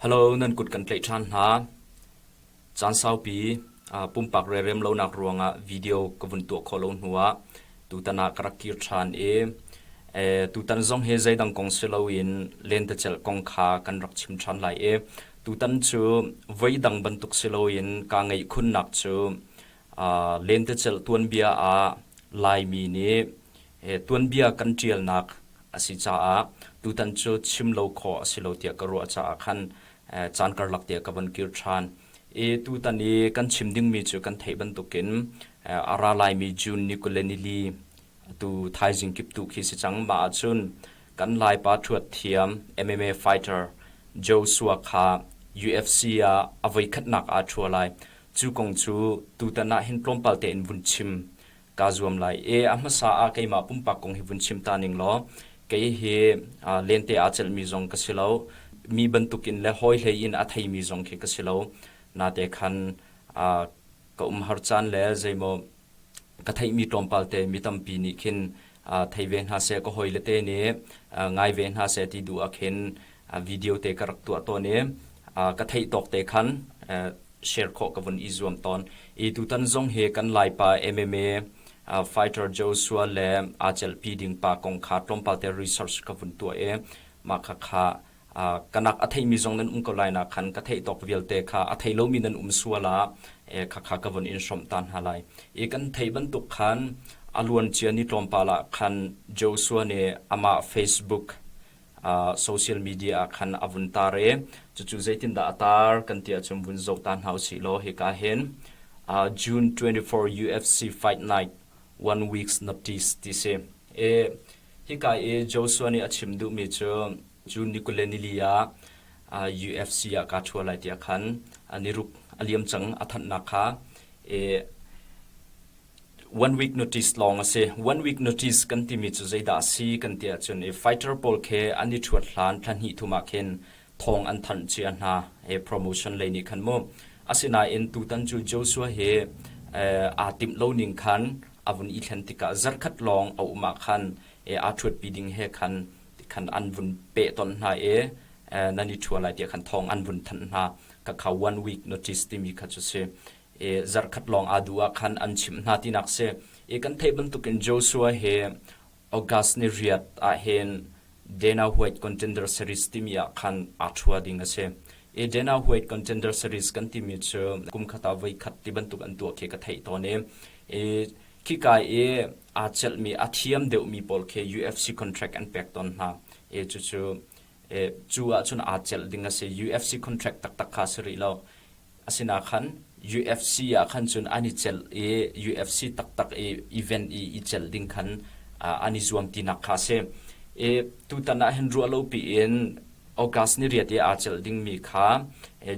Halo, nan kut kan tlaih ṭhan hna. Caan saupi pumpak rerem lonak ruangah video ka vun tuah khawh lo hnuah tutan ah ka rak kir ṭhan i tutan zong hi zeidang kong si loin lentecelh kong kha kan rak chim ṭhan lai i tutan cu voidang bantuk si loin kaa ngeih khunnak cu lentecelh tuanbia ah Laimi nih Hi tuanbia kan ṭialnak a si caah tutan cu chim lo khawh a si lo tiah ka ruah caah khan caan karlak te ah ka von kir ṭhan i tutan i kan chim dingmi cu kan theih bantukin a ra laimi June ni kule nili tu thaizing kip tu khi si cang. Mah ahcun kan Laipa ṭhuatthiam MMA fighter Joshua kha UFC ah a voikhatnak aa ṭhua lai. Cu kong cu tutan ah hin tlawmpal tein vun chim kaa zuam lai i a hmasa ah keimah pumpak kong hi vun chim ta ning law kei hi lente aa celhmi zong ka si lo, mi bantukin le hawihlei in a theimi zong khi ka si lo. Nate khan ka umhar caan le zeimaw ka theihmi tlawmpal te mi tampi nih khin thei ve hna seh, ka hawile te nih ngai ve hna seh ti duh ah khin video te ka rak tuah tawn i ka theih tawk te khan share khawh ka vun i zuam tawn i tutan zong hi kan laipa MMA fighter Joshua le aa celhpi ding pa kong kha tlawmpal te research ka vun tuah i mah kha kha kanak a theimi zong nan um ko lai na khan ka theih tawk vialte kha a thei lomi nan um sual a khakha ka von in hrom ta hna lai i kan thei bantuk khan a luan cia ni tlawmpal ah khan Joshua nih ama Facebook social media ah khan a vun tar i cucu zeitindah a tar kan ti ahcun vun zoh ta hna usih law hika hin June 24 UFC Fight Night one weeks notice ti si i hika i Joshua nih a chim duhmi cu cu Nikuleni ah UFC ah kaa ṭhu lai tiah khan ni ruk a liam cang a thanhnak kha i one week notice lawng a si. One week notice kan timi cu zeidah a si kan ti ahcun i fighter pawl khi an i thuat hlan thlahnih thum ah khin thawng an thanh cia hna he promotion lei nih khan mu. Asinain tutan cu Joshua hi aa timh lo ning khan a vun i thlen tikah zarkhat lawng a um ah khan aa thuatpi ding he khan khan an vun peh ton hna i nan i thua lai tiah khan thawng an vun thanh hna. Ka kha one week notice timi kha cu si. zarhkhat lawng aa duh ah khan an chimh hna tinak si. I kan theih bantukin Joshua hi August ni riat ah hin Dana White Contender Series timi ah khan aa ṭhua ding a si. I Dana White Contender Series kan timi cu kum khat ah voi khat tibantuk an tuah khi ka theih tawn i, i khika i aa celhmi, a thiam deuhmi pawl khi UFC contract an pek tawn hna i cucu cu ahcun aa celh ding a si. UFC contract taktak kha a si rih lo. Asinain khan UFC ah khan cun an i celh i UFC taktak i event i i celh ding khan an i zuam tinak kha a si. Tutan ah hin ruah lopi in August ni riate aa celh dingmi kha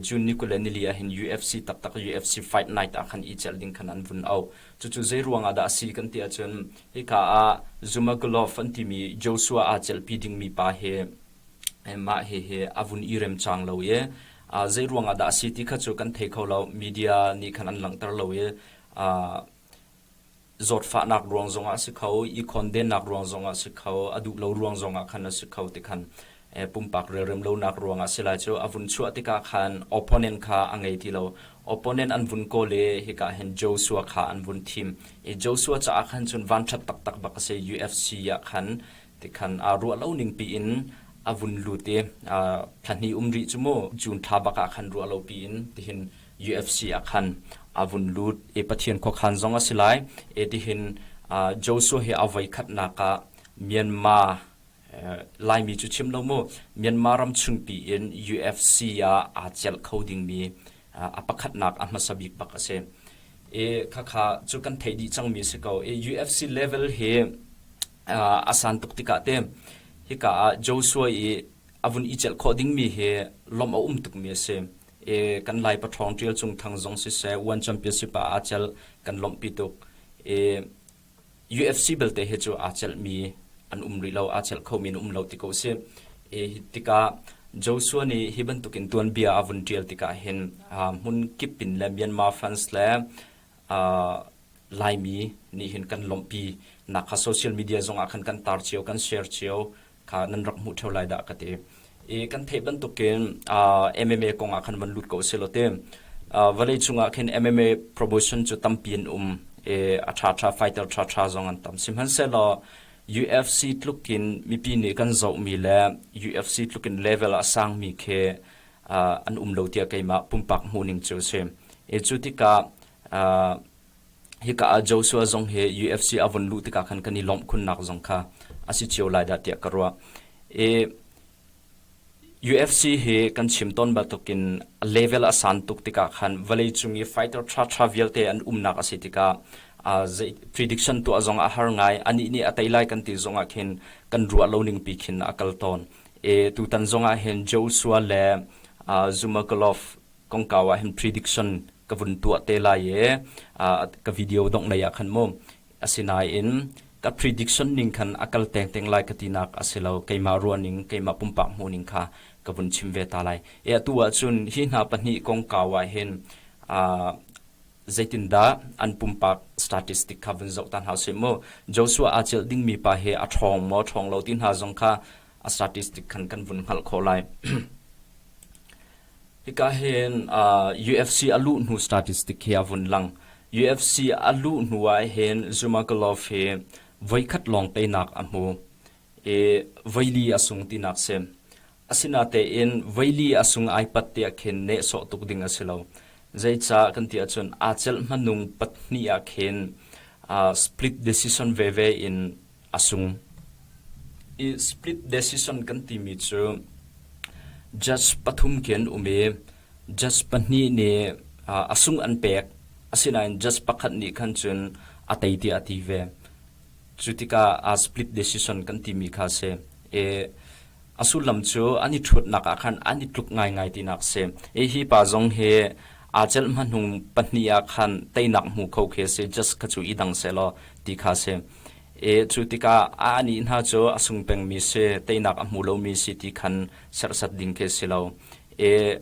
June ni kule nili ah hin UFC taktak UFC fight night ah khan i celh ding khan an vun auh. Cucu zei ruangah dah a si kan ti ahcun Hika ah Zumagulov an timi Joshua aa celhpi dingmi pa hi mah hihi a vun i rem cang lo i zei ruangah dah a si ti kha cu kan thei kho lo. Media nih khan an langhter lo i zawtfahnak ruang zongah a si kho i khondennak ruang zongah a si kho, a duh lo ruang zongah khan a si kho ti khan pumpak relrem lonak ruangah a si lai cu a vun chuah tikah khan opponent kha a ngei ti lo. Opponent an vun kawl i hika hin Joshua kha an vun thim i Joshua caah khan cun vanṭhat taktak bak a si, UFC ah khan tikhan aa ruah lo ningpi in a vun lut i thlahnih um rih cu mu June thla bak ah khan ruah lopi in tihin UFC ah khan a vun lut i Pathian khuakhan zong a si lai, etihin Joshua hi a voi khatnak ah Myanmar Laimi cu chim lo mu, Myanmar ram chungpi in UFC ah aa celh kho dingmi a pakhatnak a hmasa bik bak a si. Khakha cu kan theih dih cangmi a si ko. UFC level hi a san tuk tikah te hika ah Joshua i a vun i celh khawh dingmi hi lawmh a um tukmi a si. Kan Lai Pathawng Ṭial Cung Thang zong siseh, One Championship ah aa celh, kan lawmhpi tuk. UFC belte hi cu aa celhmi an um rih lo, aa celh khomi an um lo ti ko a si. E, hi tikah Joshua nih hi bantukin tuanbia a vun ṭial tikah hin hmun kip in le Myanmar, France le Laimi nih hin kan lawmhpi nak kha social media zongah khan kan tar cio, kan share cio kha nan rak hmuh theo lai dah ka ti i kan theih bantukin MMA kong ah khan van lut ko selaw ti vawlei cungah khin MMA promotion cu tampi an um i a tha tha fighter tha tha zong an tam sihmanhsehlaw UFC tlukin mipi nih kan zohmi le UFC tlukin level a sangmi khi an um lo tia keimah pumpak hmuhning cu si i cu tikah Hika ah Joshua zong hi UFC a vun luh tikah khan kan i lawmh khunnak zong kha a si cio lai dah tiah ka ruah. I UFC hi kan chim tawn bantukin level a san tuk tikah khan vawleicung i fighter ṭhaṭha vialte an umnak a si tikah uh, zei prediction tuah zong a har ngai. Anih nih a tei lai kan ti zongah khin kan ruah lo ningpi khin a kal tawn. I tutan zongah hin Joshua le uh, Zhumagalov kongkau ah hin prediction ka vun tuah te lai i ka video dongh nei ah khan mu asinain ka prediction ning khan a kal teng teng lai ka tinak a si lo keimah ruahning keimah pumpak hmuhning kha ka vun chim ve ta lai e atu ahcun hi hna pahnih kongkau ah hin zeitindah an pumpak statistic kha vun zoh ta hna sih mu Joshua a chilh dingmi pa hi a ṭhawng maw ṭhawng lo ti hna zong kha a statistic khan kan vun hngalh khawh lai hika hin uh, UFC a luh hnu statistic hi a vun lang UFC a luh hnu ah hin Zumagulov hi voikhat long te nak a hmu e voili a sung ti nak se asina te in voili a sung ai pat te khin ne so tuk ding asilo zeica kan ti achun acel manung patni a khin uh, split decision ve ve in a sung. I split decision kan timi cu judge pathum khi an um i judge pahnih nih a sung an pek asinain judge pakhat nih khan cun a tei tiah a ti ve. Cu tikah a split decision kan timi kha a si. I a sullam cu an i ṭhutnak ah khan an i tluk ngaingai tinak a si. I hi pa zong hi aa celh hmanung pahnih ah khan teinak hmu kho khi a si. Judge kha cu i dang sehlaw ti kha a si. Cu tikah a anih hna cu a sung pengmi si, teinak a hmu lomi si ti khan serhsat ding khi a si lo. E,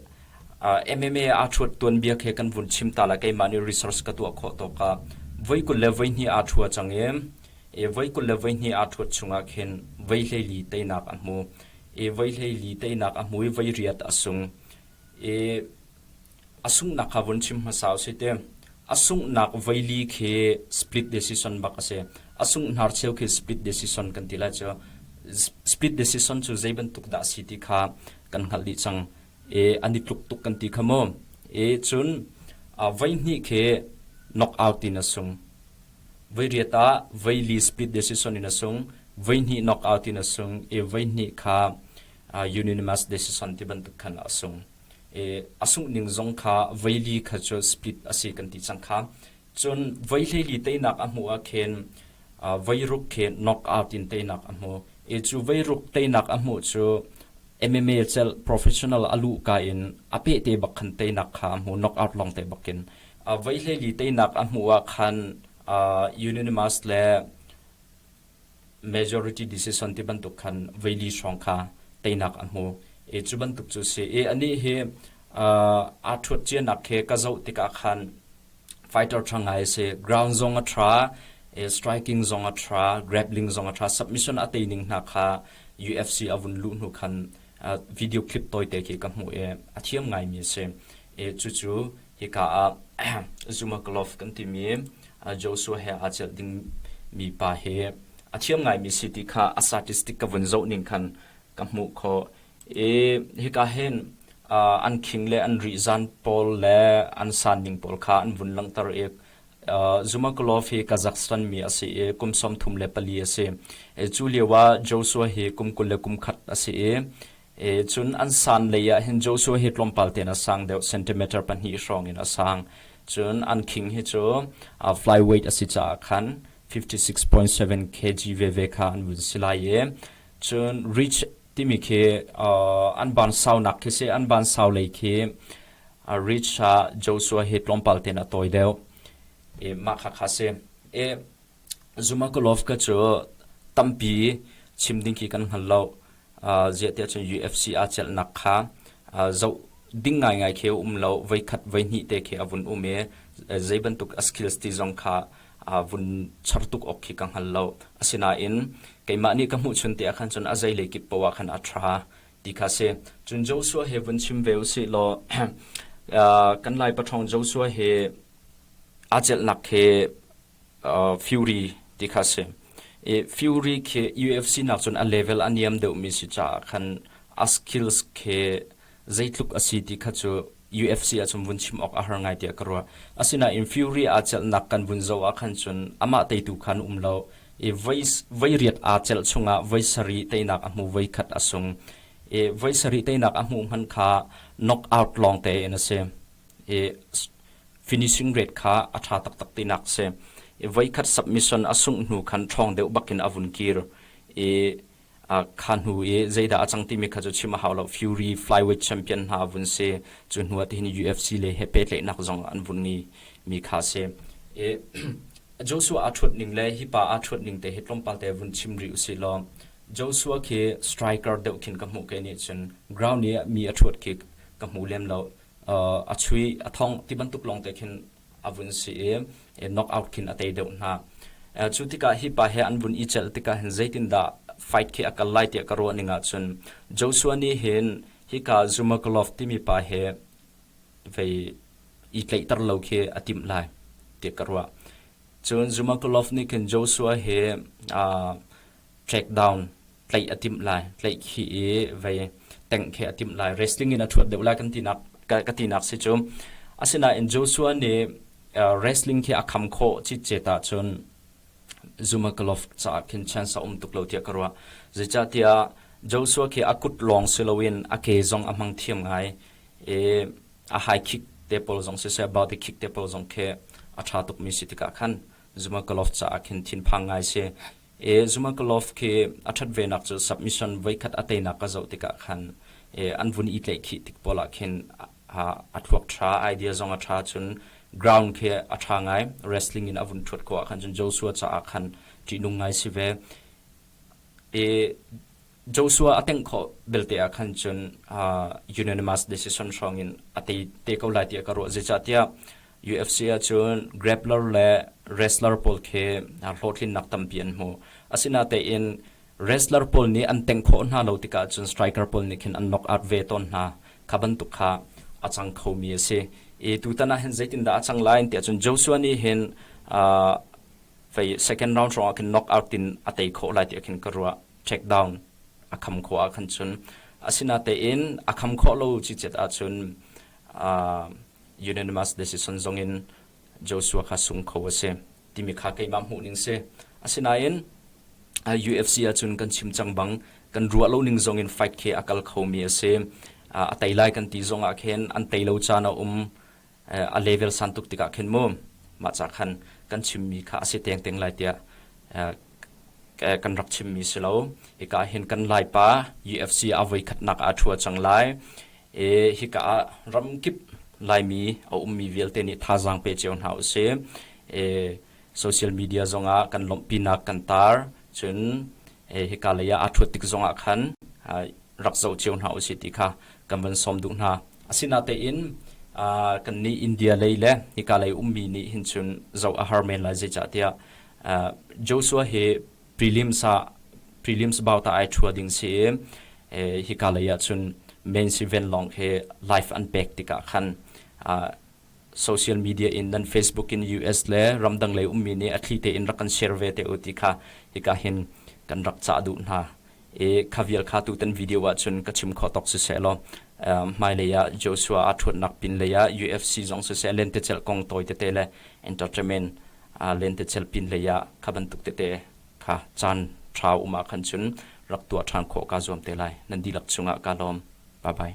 MMA aa ṭhuat tuanbia khi kan vun chim ta la, keimah nih research ka tuah khawh tawk ah voi kul le voi hnih aa ṭhua cang i, e, voi kul le voi hnih aa ṭhuat chungah khin voi hleili teinak a hmu. E, voi hleili teinak a hmu i voi riat a sung. E, A sunghnak kha vun chim hmasa u sih ti. A sunghnak veili khi split decision bak a si. A sunghnar cheu khi split decision kan ti lai cu. Split decision cu zei bantuk dah a si ti kha kan hngalh dih cang. E, an i tluk tuk kan ti kha mu. E, cun a veihnih khi knockout in a sung. Voi riat ah veili split decision in a sung. Veihnih knockout in a sung. E, veihnih kha unanimous decision ti bantuk khan a sung. i a sunghning zong kha veili kha cu split a si kan ti cang kha cun voi hleili teinak a hmuh ah khin veiruk khi knock out in teinak a hmu i cu veiruk teinak a hmuh cu MMA cel professional a lu ka in a peh te bak khan teinak kha a hmu knock out long te bakin a veihleili teinak a hmuh ah khan uh, Unanimus le majority decision ti bantuk khan veili hrawng kha teinak a hmu i cu bantuk cu si i anih hi aa ṭhuat cianak khi ka zoh tikah khan fighter ṭha ngai a si ground zong a ṭha i striking zong a ṭha grappling zong a ṭha submission a tei ning hna kha UFC a vun luh hnu khan video clip tawite khi ka hmuh i a thiam ngaimi a si i cucu Hika ah Zumaglof kan timi Joshua he aa celh dingmi pa hi a thiam ngaimi si ti kha a statistic ka vun zoh ning khan ka hmuh khawh i hika hin an khing le an ri zan pawl le an sanning pawl kha an vun langhter i Zumaglof hi Kazakhstan mi a si i kum sawm thum le pali a si. Cu lio ah Joshua hi kum kul le kum khat a si i Cun an san lei ah hin Joshua hi tlawmpal tein a sang deuh, centimeter pahnih hrawng in a sang. Cun an khing hi cu flyweight a si caah khan fifty-six point seven kg veve kha an vun si lai i cun reach timi khi an bansaunak khi si, an bansau lei khi reach ah Joshua hi tlawmpal tein a tawi deuh. Mah khakha si. Zumagulov kha cu tampi chim ding khi kan hngal lo. Uh, ziahtiah cun UFC aa celhnak kha uh, zoh ding ngaingai khi a um lo. Voikhat voihnih te khi a vun um i zei bantuk a skills ti zong kha uh, vun char tuk awk khi ka hngal lo. Asinain keimah nih ka hmuhchun te ah khan cun a zeilei kip poah ah khan a ṭha ti kha si. Cun Joshua he vun chim ve u sih law uh, kan Lai paṭhawng Joshua he aa celhnak khi Fury ti kha a si. I Fury khi UFC nakcun a level a niam deuhmi si caah khan a skills khi zeitluk a si ti kha cu UFC ahcun vun chim awk a har ngai tiah ka ruah. Asinain Fury aa celhnak kan vun zoh ah khan cun amah teitu kha an um lo i voi riat aa celh chungah voi sarih teinak a hmu, voi khat a sung i voi sarih teinak a hmuh hmanh kha knockout lawng tein a si. I finishing rate kha a ṭha taktak tinak a si. I voikhat submission a sungh hnu khan ṭhawng deuh bakin a vun kir i a kha hnu i zeidah a cang timi kha cu chim a hau lo. Fury flyweight champion hna a vun si. Cu hnu ah tihin UFC le he pehtlaihnak zong an vun i mi kha a si. I Joshua aa ṭhuat ning le hi pa aa ṭhuat ning te hi tlawmpal te vun chim rih usih law Joshua khi striker deuh khin ka hmuh ke nih cun ground i mi a ṭhuat khi ka hmu lem lo. a chuih a thong ti bantuk lawngte khin a vun si i knock out khin a tei deuh hna. Cu tikah hi pa he an vun i celh tikah hin zeitindah fight khi a kal lai tiah ka ruahning ahcun Joshua nih hin hika Zumagulov timi pa he vei i tleihter lo khi a timh lai tiah ka ruah. Cun Zumagulov nih khin Joshua he breakdown tlaih a timh lai tlaih khi i vei teng khi a timh lai wrestling in a thuat deuh lai kan tinak ka tinak si cu asinain Joshua nih wrestling khi a kham kho chi che ta cun Zumagulov caah khin chance a um tuk lo tiah ka ruah zeicahtiah Joshua khi a kut lawng si loin a ke zong a hmang thiam ngai i a high kick te pawl zong si seh body kick te pawl zong khi a tha tukmi si tikah khan Zumagulov caah khin thinphang ngai si e Zhumakalov khi a ṭhat venak cu submission voikhat a teinak ka zoh tikah khan e an vun i tlaihkhih tik pawl ah khin a, a thluak ṭha idea zong a ṭha cun ground khi a ṭha ngai wrestling in a vun ṭhuat ko ah khan cun Joshua caah khan ṭihnung ngai si ve e Joshua a tengh khawh belte ah khan cun unanimous decision hrawng in a te te ko lai tiah ka ruah zeicahtiah UFC ah cun grappler le wrestler pawl khi hlawhtlinnak tampi an hmu asinatein wrestler pawl nih an tengh khawh hna lo tikah cun striker pawl nih khin an knock out ve tawn hna kha bantuk kha a cang khomi a si i tutan ah hin zeitindah a cang lai tiah cun Joshua nih hin pei second round hrawng ah khin knock out in a tei khawh lai tiah khin ka ruah checkdown a kham khawh ah khan cun asinatein a kham khawh lo cicet ah cun unanimous decision zong in Joshua kha sung kho a si timi kha keimah hmuh ning si asinain UFC ahcun kan chim cang bang kan ruah lo ning zong in fight khi a kal khomi a si a tei lai kan ti zong ah khin an tei lo caan a um a level san tuk tikah khin mu mah ca khan kan chimmi kha a si tengteng lai tiah kan rak chimmi si lo hika hin kan laipa UFC a voi khatnak a thua cang lai e hika ah ramkip laimi a ummi vialte nih thazaang pe cio hna usih e social media zongah kan lawmhpinak kan tar cun hika lei ah aa ṭhuat tik zongah khan rak zoh cio hna usih ti kha kan van sawm duh hna. Asinatein kannih India lei le hika lei ummi nih hin cun zoh a har men lai zeicahtiah Joshua hi prelims ah prelims about ah ai ṭhua ding si i hika lei ah cun men's event lawng hi live an pek tikah khan social media in nan Facebook in US le ramdang lei ummi nih a thli tein rak kan share ve te u ti kha hika hin kan rak cah duh hna i kha vial kha tutan video ah cun ka chim kho tok siseh law hmailei ah Joshua a ṭhuatnak pin lei ah UFC zong siseh lentecel kong tawi tete le entertainment lentecel pin lei ah kha bantuk tete kha caan ṭha um ah khan cun rak tuah ṭhan khawh ka zuam te lai nan dihlak chungah ka lawm bye bye